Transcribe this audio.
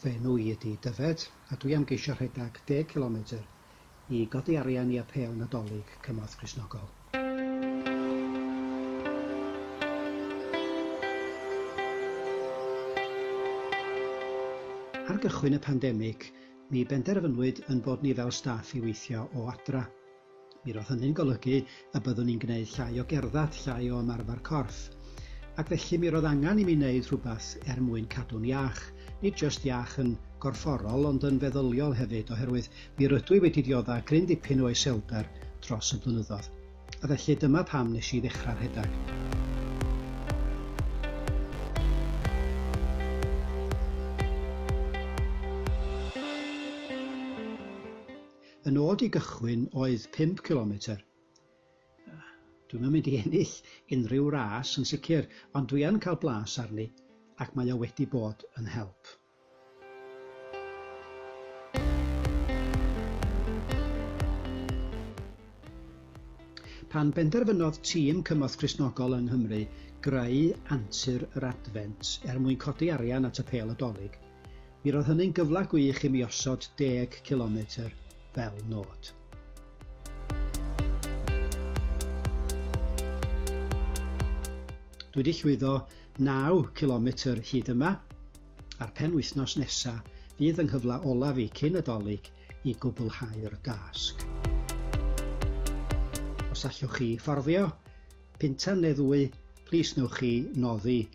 Fy enw i ydi Dyfed a dwi am geisio rhedag deg cilometr i godi arian i Apêl Nadolig Cymorth Cristnogol. Ar gychwyn y pandemig, mi benderfynwyd yn bod ni fel staff i weithio o adra. Mi roedd hynny'n golygu y byddwn i'n gwneud llai o gerdded, llai o ymarfer corff. Ac felly mi roedd angen i mi wneud rhywbeth er mwyn cadw'n iach, nid jyst iach yn gorfforol ond yn feddyliol hefyd oherwydd mi rydw i wedi diodda' gryn dipyn o iselder dros y blynyddoedd. A felly dyma pam nes i ddechrau rhedeg. Y nod i gychwyn oedd pump cilometr. Dwi'm yn mynd i ennill unrhyw ras yn sicr, ond dwi yn cael blas arni ac mae o wedi bod yn help. Pan benderfynodd tîm Cymorth Cristnogol yng Nghymru greu Antur yr Adfent er mwyn codi arian at y Pêl y Dolig, Mi roedd hynny'n gyfle gwych i mi osod deg cilometr fel nod. Dwi 'di llwyddo naw cilometr hyd yma, a'r penwythnos nesa fydd yng nghyfle olaf i cyn y Dolig i gwblhau'r dasg. Os allwch chi fforddio pintan neu ddwy, plis newch chi noddi